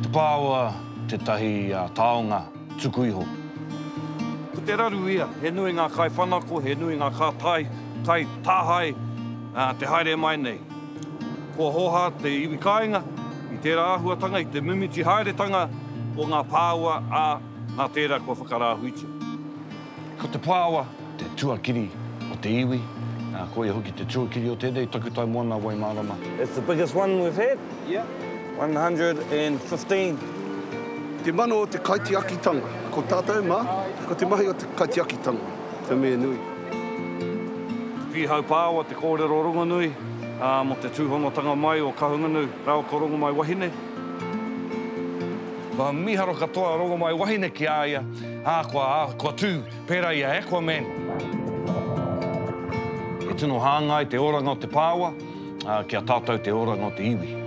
Te Pāoa tētahi taonga tuku iho. Ko te raru ia, he nui ngā kaiwhanako, he nui ngā kātai, kai, tāhae, te haere mai nei. Kua hoha te iwi kāinga i tērā āhuatanga, i te mimiti haeretanga o ngā pāoa, ā, nā tērā kua whakarāhuitia. Ko te pāoa Te tuakiri o te iwi, ā, koia hoki te tuakiri o tēnei takutai moana Waimārama. It's the biggest one we've had. Yep. 115. Te mano o te kaitiakitanga. Ko tātou mā, ko te mahi o te kaitiakitanga, te mea nui. Pīhaupāoa te kōrero rongonui, ā, mō te tūhonotanga mai o Kahungunu rāua ko Rongomaiwahine. Kua mīharo katoa a Rongomaiwahine ki a ia, ā, kua, kua tū. Pērā i a Aquaman. E tino hāngai te oranga o te pāoa, ā, ki a tātou te oranga o te iwi.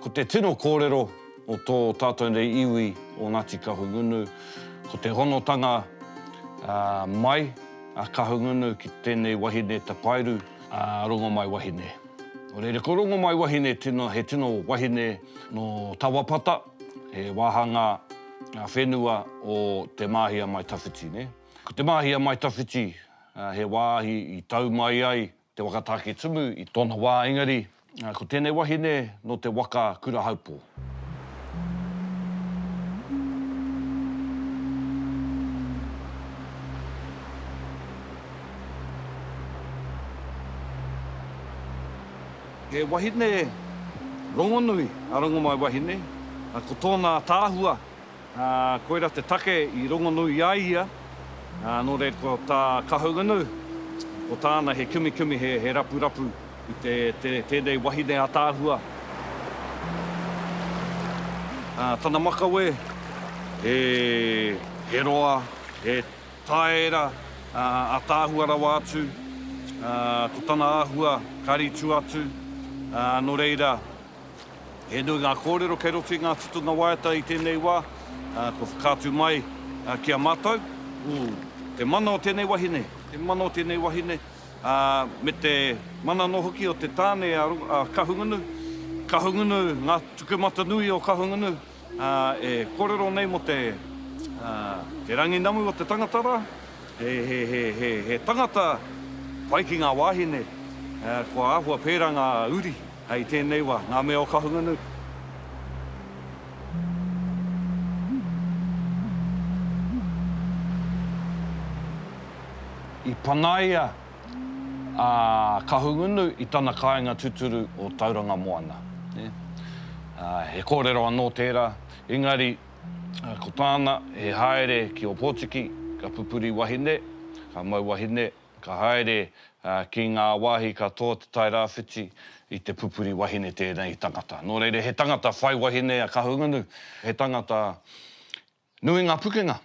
Ko te tino kōrero mō tō tātou nei iwi o Ngāti Kahungunu, ko te honotanga mai a Kahungunu ki tēnei wahine tapairu, a Rongomaiwahine. Nō reira, ko Rongomaiwahine tino, he tino wahine nō Tawapata, he wāhanga whenua o Te Māhi a Maitawhiti, nē. Ko Te Māhi a Maitawhiti, he wāhi i tau mai ai Te waka Tāketumu i tōna wā engari ko tēnei wahine nō te waka Kurahaupō. He wahine rongonui a Rongomaiwahine, ko tōna ataahua Ā, koirā te take i rongonū i a ia, ā, nō reira ko tā Kahungunu, ko tāna he kimikimi, he, he rapurapu i te, te, tēnei wahine ataahua. Ā, tana makawe, he, he roa, he tāera, ā, ataahua rawa atu, ā, ko tana āhua, karitu atu, ā, nō reira, He nui ngā kōrero kei roto i ngā tutunga waiata i tēnei wā, kua whakaatu mai ki a mātou. Te mana o tēnei wahine, te mana o tēnei wahine, me te mana anō hoki o te tāne a Kahungunu, Kahungunu, ngā tukumatanui o Kahungunu. E kōrero nei mō te rangi namu o te tangata rā. He tangata pai ki ngā wāhine, kua āhua pērā ngā uri i tēnei wā, ngā mea o Kahungunu. I pangaia. a Kahungunu i tana kāinga tuturu o Tauranga Moana. He kōrero anō tērā, engari ko tāna he haere ki Ōpōtiki, ka pupuri wahine, ka mau wahine, ka haere ki ngā wāhi katoa o Te Tai Rāwhiti i te pupuri wahine tēnei tangata. Nō reira, he tangata whai wahine a Kahungunu, he tangata Nui nga pukenga.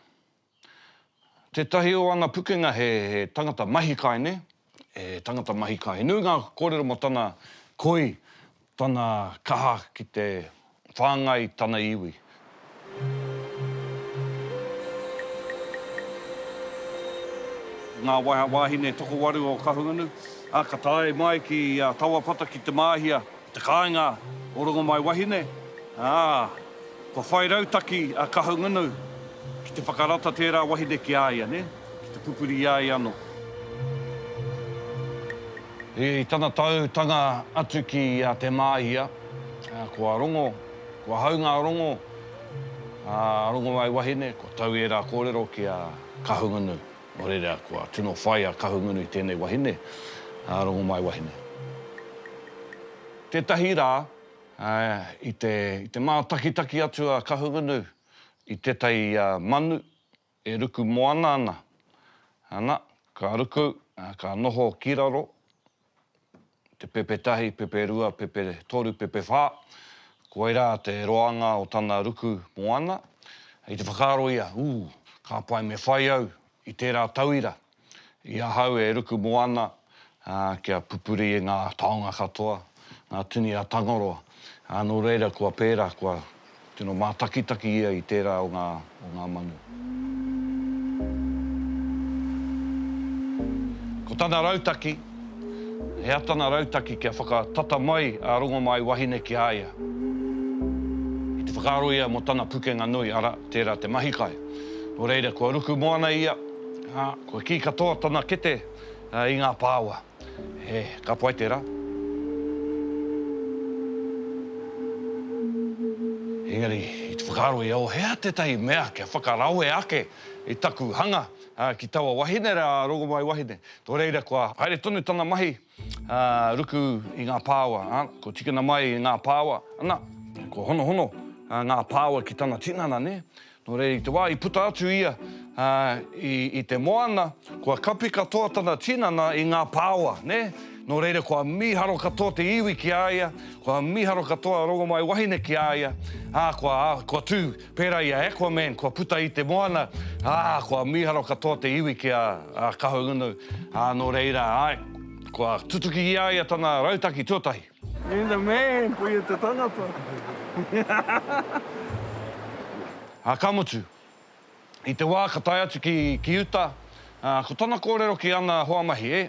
Tetahi o ana pukenga he tangata mahikaine, he tangata mahika. He nui nga korero mo tana koi, tana kaha ki te whangai tana iwi. Nga wahine tokowaru o Kahungunu, a ka tae mai ki a Tawapata ki Te Māhia. Te kāinga o Rongomaiwahine, ā, kua whai rautaki a Kahungunu ki te whakarata tērā wahine ki a ia, nē, ki te pupuri i a ia anō. I tana tautanga atu ki a Te Māhia, kua rongo, kua hau ngā rongo a Rongomaiwahine, kua tau ērā kōrero ki a Kahungunu. Nō reira, kua tino whai a Kahungunu i tēnei wahine, a Rongomaiwahine. Tētahi rā, i te mātakitaki atu a Kahungunu i tētahi manu e ruku moana ana, ana, ka ruku, ka noho ki raro, te pepe tahi, pepe rua, pepe toru, pepe whā, koirā te roanga o tana ruku moana. I te whakaaro ia, ū, ka pai me whai au i tērā tauira i ahau e ruku moana, ā, kia pupuri e ngā taonga katoa ngā tini a Tangaroa, ā, nō reira kua pērā, kua. Tino mātakitaki ia i tērā o ngā, o ngā manu. Ko tana rautaki, he atana rautaki kia whakatata mai a Rongomaiwahine ki a ia. I te whakaaro ia mō tana pukenga nui, ara, tērā te mahi kai. Nō reira, kua ruku moana ia, ā, kua kī katoa tana kete i ngā pāoa. He ka pai tērā. Engari, i te whakaaro ia, o hea tētahi mea kia whakarawe ake i taku hanga ki taua wahine rā, Rongomai wahine. Nō reira, kua haere tonu tana mahi ruku i ngā pāoa, ā, kua tikina mai i ngā pāoa, ana, kua honohono ngā pāoa ki tana tinana, nē. Nō reira, i te wā i puta atu ia i te moana, kua kapi katoa tana tinana i ngā pāoa, nē. Nō reira, kua mīharo katoa te iwi ki a ia, kua mīharo katoa a Rongomaiwahine ki a ia, ā, kua, ā, kua tū pērā i a Aquaman, kua puta i te moana, ā, kua mīharo katoa te iwi ki a Kahungunu, ā, nō reira, āe, kua tutuki i a ia tana rautaki tuatahi. You're the man, puia te tangata. Ā, ka mutu, i te wā ka tae atu ki, ki uta, ā, ko tana kōrero ki ana hoa mahi, e,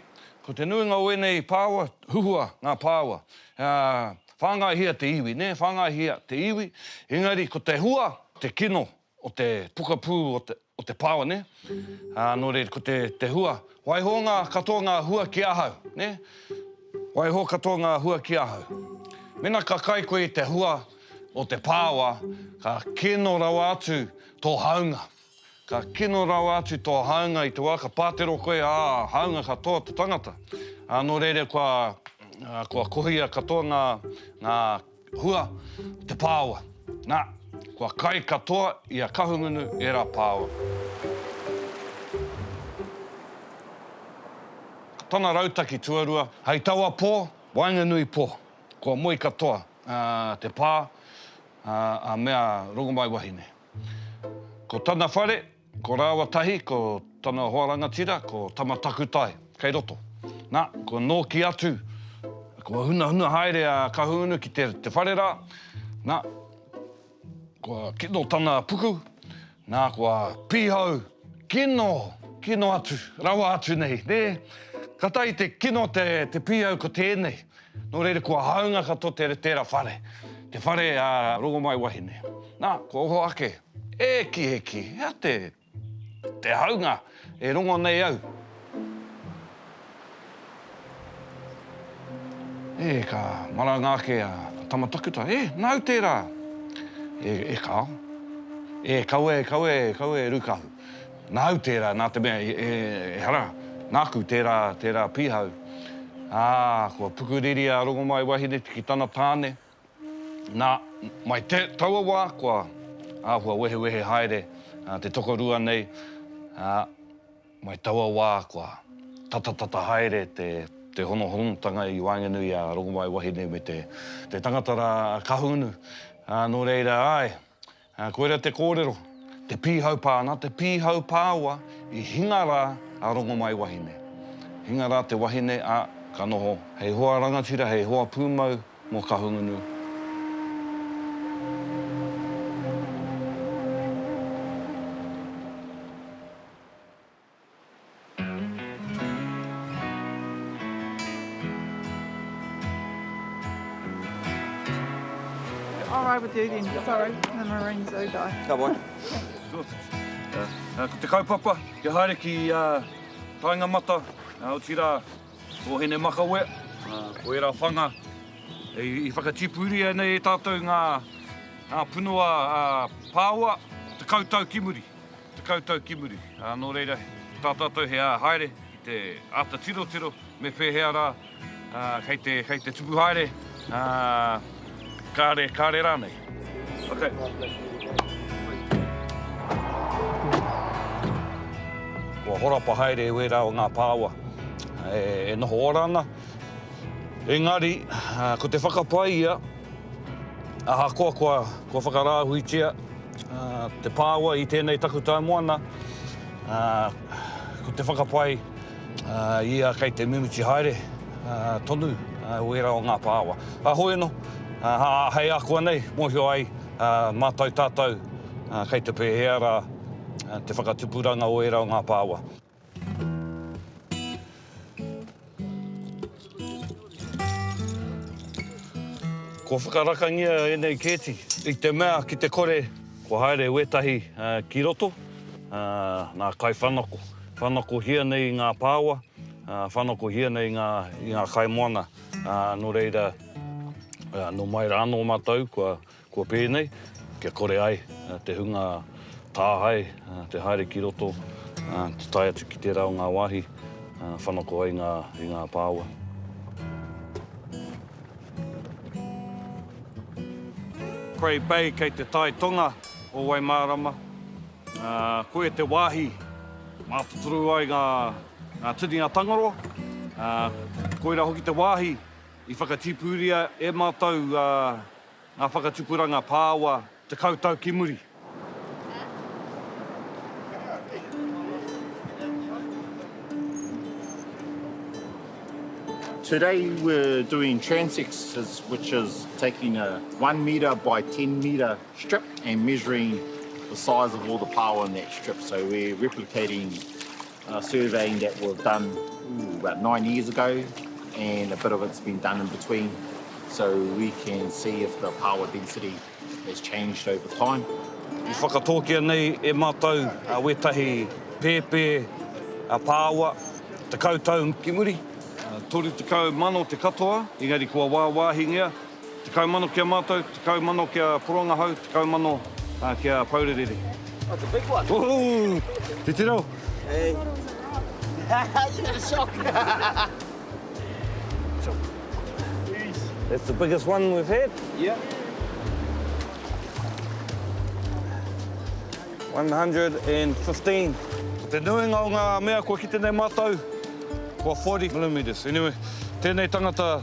ko te nuinga o ēnei pāua, huhua ngā pāua, ā, whāngaihia te iwi, nē, whāngaihia te iwi, engari ko te hua, te kino o te pokapū o te Pāone, ā, nō reira, ko te, te hua, waiho ngā, katoa ngā hua ki ahau, nē? Waiho katoa ngā hua ki ahau. Mēnā ka kai koe i te hua o te pāoa, ka kino rawa atu tō hāunga. Ka kino rawa atu tō hāunga i te wā ka pātero koe, ā, hāunga katoa te tangata. Ā, nō reira, kua, kua kohia katoa ngā, ngā Hua, te pāoa. Nā, kua kai katoa i a Kahungunu ērā pāoa. Ko tana rautaki tuarua. Hei taua pō, waenganui pō, kua moe katoa te pā a Mea Rongomaiwahine. Ko tana whare. Ko rāua tahi, ko tana hoa rangatira, ko Tama Takutai, kei roto. Nā, kua nōki atu, kua hunahuna haere a Kahungunu ki te whare rā, nā, kua kino tana puku, nā, kua pīhau, kino, kino atu, rawa atu nei, nē. Ka tahi te kino te pīhau ko tēnei. Nō reira, kua hāunga katoa te tērā whare, te whare a Rongomaiwahine. Nā, kua oho ake, E ki, e ki, he aha te, te hāunga e rongo nei au? E, ka maranga ake a Tamatakuta, E, nāu tērā! E, e kāo. E, kaua e, kaua e, kaua e Rūkahu. Nāu tērā, nā te mea, ehara, nāku tērā, tērā pīhau. Ā, kua pukuriri a Rongomaiwahineti ki tana tāne. Nā, mai te, taua wā, kua āhua wehewehe haere te tokorua nei, ā, mai taua wā kua tatatata haere te, te honohonotanga i waenganui i a Rongomaiwahine me te, te tangata rā a Kahungunu. Ā, nō reira, āe, Ā, koira te kōrero, te pīhau pā, nā te pīhau pāoa i hinga rā a Rongomaiwahine. Hinga rā te wahine, ā, ka noho hei hoa rangatira, hei hoa pūmau mō Kahungunu. I'll ride with you then. Sorry, the Marine Zoo guy. Ka wai. Ko te kaupapa, kia haere ki Taingamata, otirā, Hōhene Makawea, ko ērā whanga i whakatipuria nei e tātou ngā punua pāoa, tekau tau ki muri. Tekau tau ki muri, ā, nō reira, tā tātou he āa haere ki te āta tirotiro me pēhea rā, ā, kei te, kei te tupu haere, ā, kāre, kāre rānei. Ok. Kua horapa haere e wērā o ngā pāoa e noho ora ana, engari, ko te whakapae ia, Ahakoa kua, kua whakarāhuitia te pāua i tēnei takutai moana, ko te whakapai ia kei te mimiti haere tonu wērā o ngā pāua. Kāhore anō, hei ākuanei mōhio ai mātou tātou kei te pēhea rā te whakatupuranga o ērā o ngā pāua. Kua whakarakangia ēnei kēti i te mea ki te kore kua haere wētahi ki roto, nā kai whanako. Whanakohia nei i ngā pāoa, whanakohia nei i ngā kaimoana, nō reira, nō mai rā anō mātou kua Kua pēnei, kia kore ai te hunga tāhae te haere ki roto, te tae atu ki tērā o ngā wāhi whanako ai i ngā pāua. Grey Bay kei te tai tonga o Waimārama. Koia te wāhi mātotoru ai ngā tini a Tangaroa. Koira hoki te wāhi i whakatīpūria e mātou Ngā whakatupuranga pāoa tekau tau ki muri. Today we're doing transects which is taking a one metre by ten metre strip and measuring the size of all the pāoa in that strip so we're replicating A surveying that was done about nine years ago and a bit of it's been done in between so we can see if the power density has changed over time. I whakatōkia nei e mātou wētahi pēpē pāoa, tekau tau ki muri, toru tekau mano te katoa, engari kua wāwāhingia. Tekau mano ki a mātou, tekau mano ki a Porongahau, tekau mano ki a Pourerere. Oh, it's a big one. Ooh, titiro. Hey. you got a shock. That's the biggest one we've had. Yeah. 115. Ko te nuinga o ngā mea kua kite nei mātou, kua 40 millimetres. Anyway, tēnei tangata,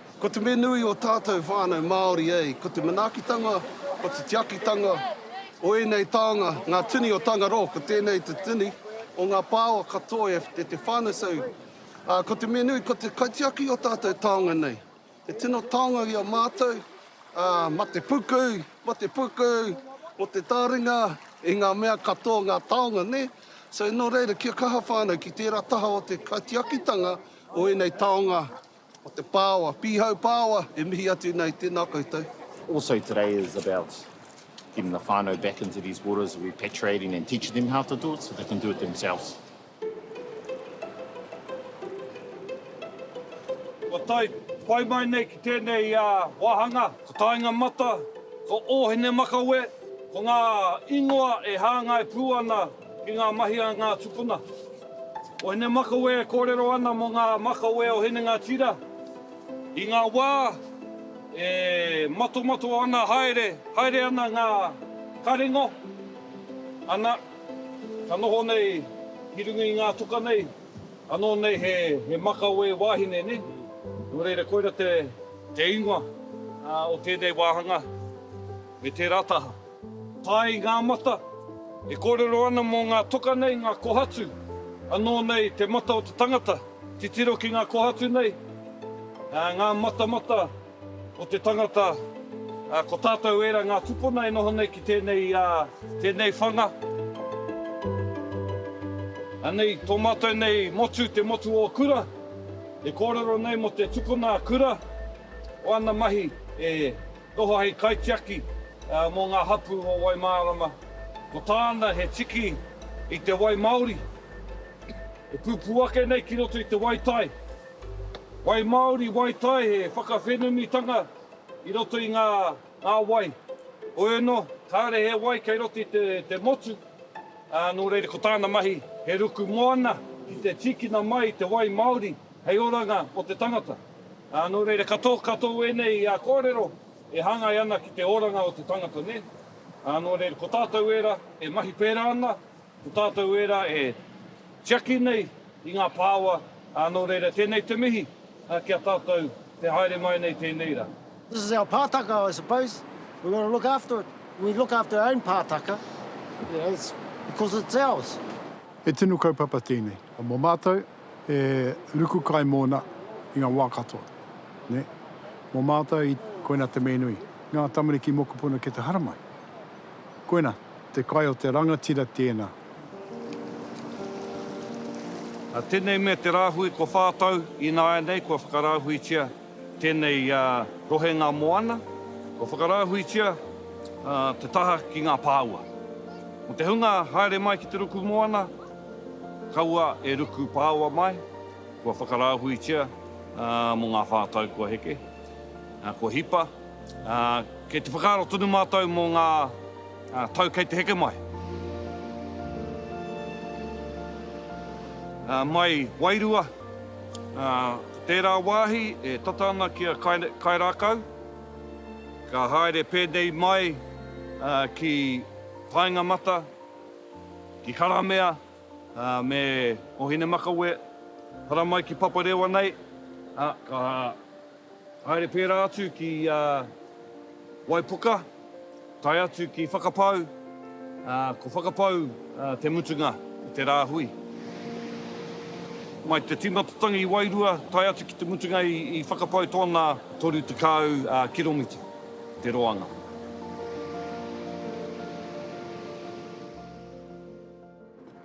Ko te mea nui o tātou whānau Māori ei, ko te manaakitanga, ko te tiakitanga o ēnei taonga, ngā tini o Tangaroa, ko tēnei te tini o ngā pāoa katoa e Te Whānau-sau, ā, ko te mea nui, ko te kaitiaki o tātou taonga nei. He tino taonga i a mātou, ā, ma te puku, ma te puku, mo te tāringa i ngā mea katoa, ngā taonga, nē? So, nō reira, kia kaha whānau ki tērā taha o te kaitiakitanga o ēnei taonga. O te Pāoa, Pīhau Pāoa, e mihi atu nei, tēnā koutou. Also today is about getting the whānau back into these waters, repatriating and teaching them how to do it so they can do it themselves. Kua tae, whai mai nei ki tēnei wāhanga, ko Taenga Mata, ko Ōhinemakawe, ko ngā ingoa e hāngai pū ana. Ki ngā mahi a ngā tupuna. O Hinemakawe e kōrero ana mō ngā makawe o Hinengatira i ngā wā e matomato ana haere, haere ana ngā karengo, ana, ka noho nei ki runga i ngā toka nei, anō nei he makawe wāhine, nē? Nō reira, koira te ingoa o tēnei wāhanga, me tērā taha. Hai ngā mata, e kōrero ana mō ngā toka nei ngā kohatu, anō nei te mata o te tangata, titiro ki ngā kohatu nei, ngā matamata o te tangata, ko tātou ērā ngā tupuna e noho nei ki tēnei whanga. Anei tō mātou nei motu, te motu o kura, e kōrero nei mō te tukuna kura o ana mahi e. Toha hei kaitiaki mō ngā hapū o Waimārama, ko tāna he tiki i te wai māori e pupū ake nei ki roto i te wai tai. Wai māori, wai tai, he whakawhenumitanga i roto i ngā wai. Hoi anō, kāore he wai kei roto i te motu, nō reira ko tāna mahi he ruku moana ki te tīkina mai te wai māori. Hei oranga o te tangata. Ā, nō reira, ka tō, ka tō ēnei kōrero e hāngai ana ki te oranga o te tangata, nē? Ā, nō reira, ko tātou ērā e mahi pērā ana, ko tātou ērā e tiaki nei i ngā pāoa, ā, nō reira, tēnei te mihi ki a tātou te haere mai nei tēnei rā. This is our pātaka, I suppose. We've got to look after it. We look after our own pātaka, you know, it's because it's ours. He tino kaupapa tēnei. Mō mātou. e ruku kai mōna i ngā wā katoa. Nē? Mō mātou, i, koina te me nui. Ngā tamariki mokopuna ki te haramai. Koina, te kai o te rangatira tēnā. Nā tēnei mea te rāhui kua whā tau, ināianei kua whakarāhuitia Tēnei rohenga moana, kua whakarāhuitia te taha ki ngā pāua. Mō te hunga haere mai ki te ruku moana, kaua e ruku pāua mai, kua whakarāhuitia mō ngā whā tau kua heke, kua hipa. Kei te whakaaro tonu mātou mō ngā tau kei te heke mai. Mai wairua. Nā tērā wāhi e tata ana ki a Kairākau, ka haere pēnei mai ki Paenga-mata, ki Karamea me Ohinemakawe, haramai ki Paparewa nei, ā, ka. Haere pērā atu ki Waipuka, tae atu ki Whakapau, ā, ko Whakapau te mutunga o te rāhui. Mai te tīmatatangi i Wairua tae atu ki te mutunga i Whakapau tōna 30 kiromita te roanga.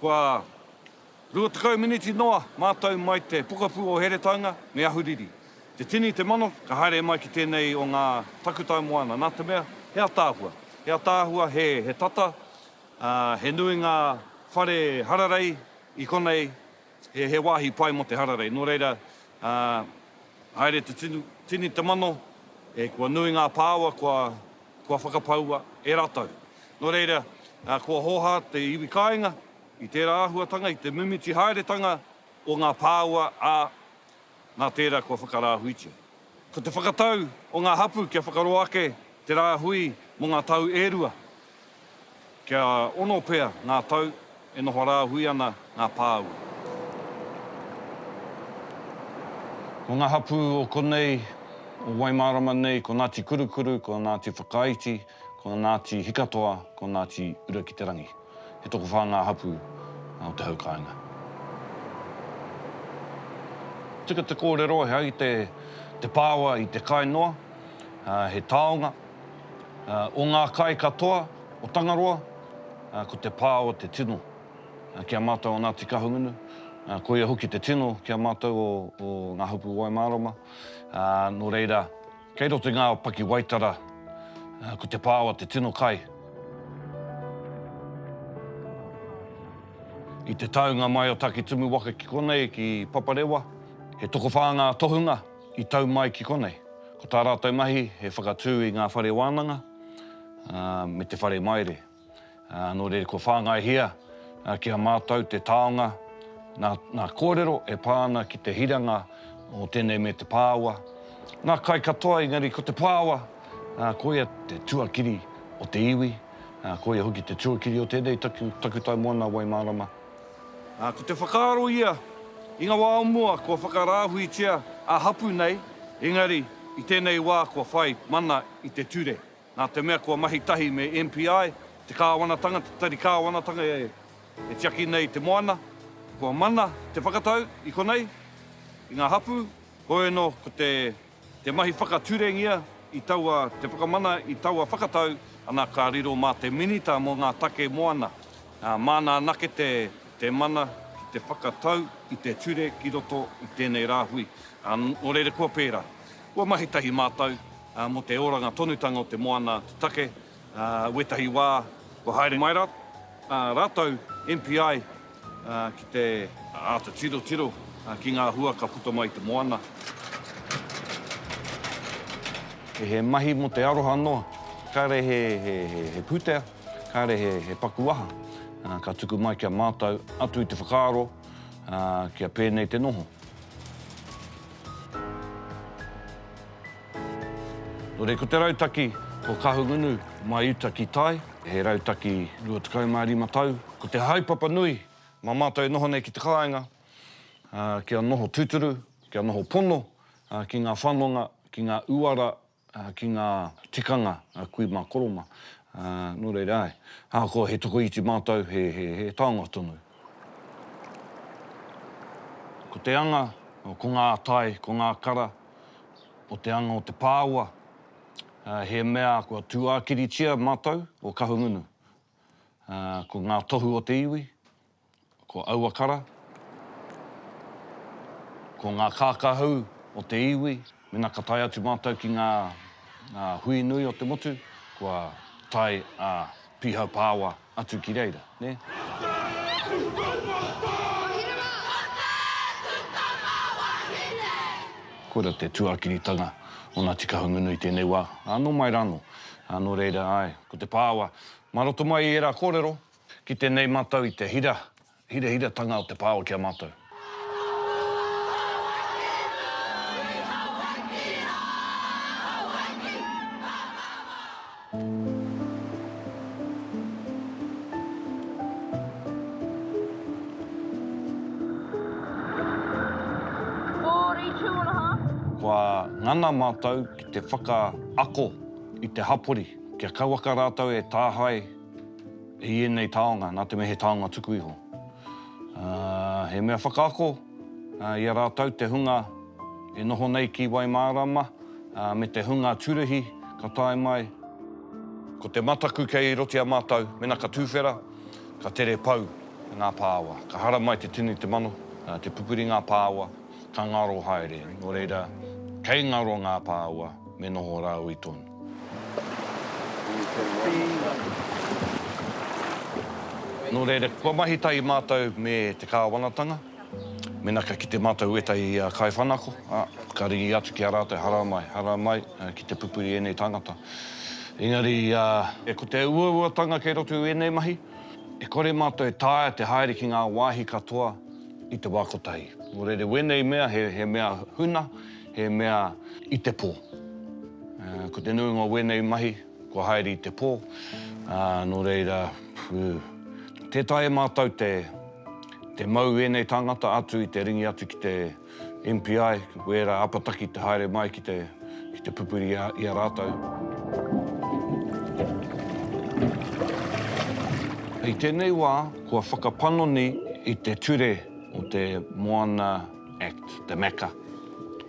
Kua 20 miniti noa mātou mai te pokapū o Heretaunga me Ahuriri. Te tini, te mano, ka haere mai ki tēnei o ngā takutai moana, nā te mea, he ataahua. He ataahua, he, he tata, ā, he nui ngā whare hararei i konei, he, he wāhi pai mō te hararei. Nō reira, ā, haere te tini, te mano, e, kua nui ngā pāoa, kua. kua whakapaua e rātou. Nō reira, kua hōhā te iwi kāinga i tērā āhuatanga, i te mimiti haeretanga o ngā pāua, ā, nā tērā kua whakarāhuitia. Ko te whakatau o ngā hapū kia whakaroa ake te rāhui mō ngā tau e rua. Kia ono pea ngā tau e noho rāhui ana ngā pāua. Ko ngā hapū o konei, o Waimārama nei, ko Ngāti Kurukuru, ko Ngāti Whakaiti, ko Ngāti Hikatoa, ko Ngāti Urakiterangi. He tokowhā ngā hapū o te hau kāinga. Tika te kōrero he aite te pāoa i te kai noa, he taonga. o ngā kai katoa o Tangaroa, ko te pā o te tino ki a mātou o Ngāti Kahungunu, koia hoki te tino ki a mātou o Ngā Hupu Waimārama, nō reira, kei roto i ngā pakiwaitara, ko te pā o te tino kai. I te taunga mai o Takitimu waka ki konei, ki Paparewa, he tokowhā ngā tohunga, I tau mai ki konei, ko tā rātou mahi he whakatū i ngā whare wānanga me te whare maire. Nō reira kua whāngaihia ki a mātou te taonga nā ngā kōrero e pā ana ki te hiranga o tēnei me te pāoa, ngā kai katoa engari ko te pāoa koia te tuakiri o te iwi, koia hoki te tuakiri o tēnei taku tau moana wai mārama. Ā, ko te whakaaro ia, i ngā wā o mua kua whakarāhuitia ā hapū nei, engari i tēnei wā kua whai mana i te ture, nā te mea kua mahi tahi me MPI te kāwanatanga, te tari kāwanatanga e tiaki nei te moana, kua mana te whakatau i konei, i ngā hapū, hoi anō ko te. Te mahi whakaturengia i taua te whakamana i taua whakatau, ana ka riro mā te Minita mō ngā Take Moana, māna anake te mana ki te whakatau i te ture ki roto i tēnei rāhui. Nō reira kua pērā, kua mahi tahi mātou mō te oranga tonutanga o te moana, te take, Ā, wētahi wā kua haere mai rā, ā rātou, MPI, ā, ki te āta tirotiro, ā, ki ngā hua ka puta mai i te moana. Kei he mahi mō te aroha noa, kāre he, he, he, he pūtea, kāre he, he paku aha, ā, ka tuku mai ki a mātou atu i te whakaaro, ā, kia pēnei te noho. Nō reku te rautaki, ko Kahungunu, mai uta ki tai, he rautaki 25 tau. Ko te haepapa nui, mā mātou e noho nei ki te kāinga, kia noho tūturu, kia noho pono ki ngā whanonga, ki ngā uara, ki ngā tikanga a kui mā Koroma. Nō reira, āe, ahakoa he tokoiti mātou, he, he, he taonga tonu. Ko te anga, ko ngā tai, ko ngā kara. o te anga o te pāoa, he mea kua tūākiritia mātou o Kahungunu. Ko ngā tohu o te iwi, ko aua kara, ko ngā kākahu o te iwi, mena ka tae atu mātou ki ngā hui nui o te motu, kua tae a Pīhau Pāoa. Atu ki reira, nē? Koira te tuakiritanga o Ngāti Kahungunu i tēnei wā, ā, nō mai rānō. Ā, nō reira, āe, ko te pāoa, mā roto mai i ērā kōrero, ki tēnei mātau i te hira, Hirahiratanga o te pāo ki a mātou. Kua ngana mātou ki te whakaako i te hapori kia kauaka rātou e tāhae I ēnei taonga, nā te mea he taonga tuku iho, he mea whakaako i a rātou te hunga e noho nei ki Waimārama me te hunga turihi ka tae mai. Ko te mataku kei roti a mātou, mena ka tūwhera, ka tere pau ngā pāoa. Ka hara mai te tini te mano, te pupuri ngā pāoa, ka ngaro haere. Nō reira, kei ngaro ngā pāoa, me noho rāua i tonu. Nō reira, kua mahi tahi mātou me te kāwanatanga, mēnā ka kite mātou ētahi kaiwhanako, ā, ka ringi atu ki a rātou, haramai, haramai, ki te pupuri ēnei tāngata. Engari, ko te uauatanga kei roto i ēnei mahi, e kore mātou e taea te haere ki ngā wāhi katoa i te wā kotahi. Nō reira, wēnei mea, he mea huna, he mea i te pō. Ko te nuinga o wēnei mahi, kua haere i te pō, nō reira, tē taea e mātou te mau ēnei tāngata atu i te ringi atu ki te MPI, wērā apataki te haere mai ki te pupuri i a rātou. I tēnei wā, kua whakapanoni i te ture o te moana. Act, te Mecca.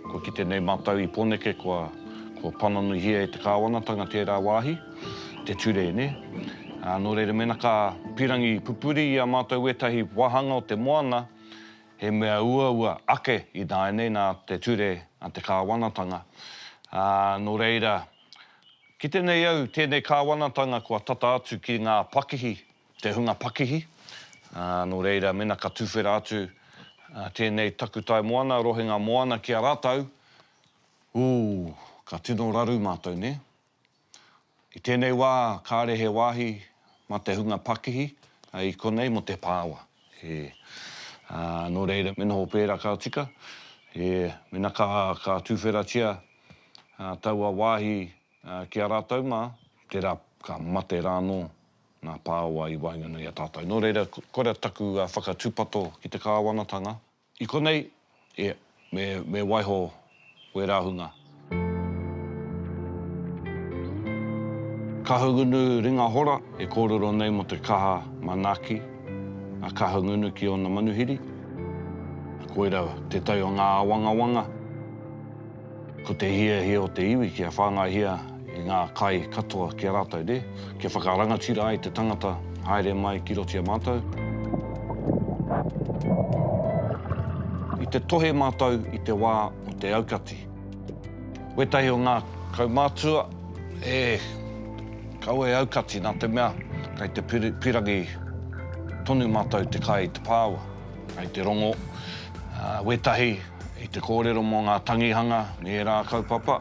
Kua kite nei mātou i Poneke kua pananuihia e te Kāwanatanga tērā wāhi, te ture, nē. Nō reira mēnā ka pīrangi pupuri i a mātou wētahi wāhanga o te moana, he mea uaua ake ināianei nā te ture a te Kāwanatanga. Nō reira, kite nei au tēnei Kāwanatanga kua tata atu ki ngā pakihi te hunga pakihi, ā, nō reira mena ka tuwhera atu tēnei takutai moana, rohenga moana ki a rātou, ūū, ka tino raru mātou, nē? I tēnei wā kāre he wāhi mā te hunga pakihi, i konei mō te pāoa, ē. Ā, nō reira me noho pērā ka tika, ē, mena ka, ka tuwheratia taua wāhi ki a rātou mā, tērā ka mate rānō ngā pāoa i waenganui i a tātou. Nō reira, koira taku whakatūpato ki te kāwanatanga. I konei, e, me, me waiho wērā hunga. Kahungunu ringa hora e kōrero nei mō te kaha manaaki a Kahungunu ki ōna manuhiri. Koira tētahi o ngā āwangawanga. Ko te hiahia o te iwi kia whāngaihia i ngā kai katoa ki a rātou, nē? Kia whakarangatira ai te tangata haere mai ki roto i a mātou. I te tohe mātou i te wā o te aukati. Wētahi o ngā kaumātua e kau e aukati nā te mea kei te pirangi tonu mātou te kai i te pāua, kei te rongo wētahi. I te kōrero mō ngā tangihanga me ērā kaupapa,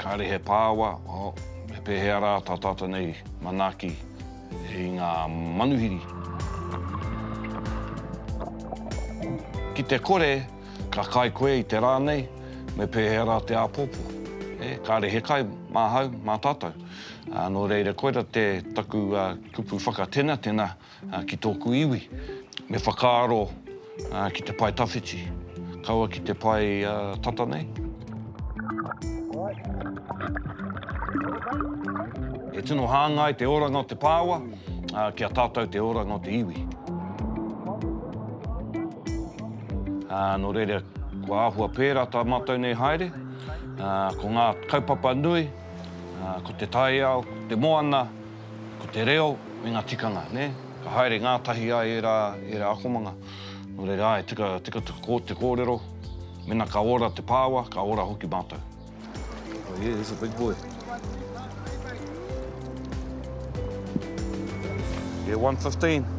kāre he pāwa, oh, me pēhea rā tā tātou nei manaaki i ngā manuhiri. Ki te kore, ka kai koe i te rā nei, me pēhea rā te āpōpō. E, kāre he kai mā hau, mā tātou. Nō reira, koira te taku kupu whakatenatena. Ki tōku iwi, me whakaaro ki te pae tawhiti, kaua ki te pae tata nei. E tino hāngai te oranga o te pāoa ki a tātou te oranga o te iwi. Nō reira, kua āhua pērā tā mātou nei haere. Ko ngā kaupapa nui, ko te taiao, te moana, Ko te reo me ngā tikanga, nē? Ka haere ngātahi ai ērā, ērā akomanga. Nō reira, āe, tika, tika te kōrero, mena ka ora te pāoa, ka ora hoki mātou. Oh yeah, he's a big boy. Yeah, 115.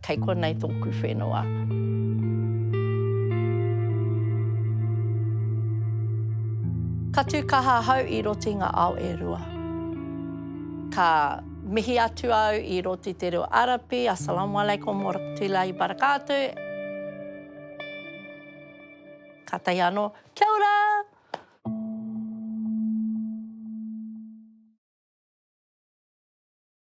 Kei konei tōku whenua. Ka tū kaha ahau i roti ngā ao e rua. Ka mihi atu au i roti te reo Arapi, Assalamualaikum Warahmatullahi Wabarakatuh. Kātahi anō, Kia ora!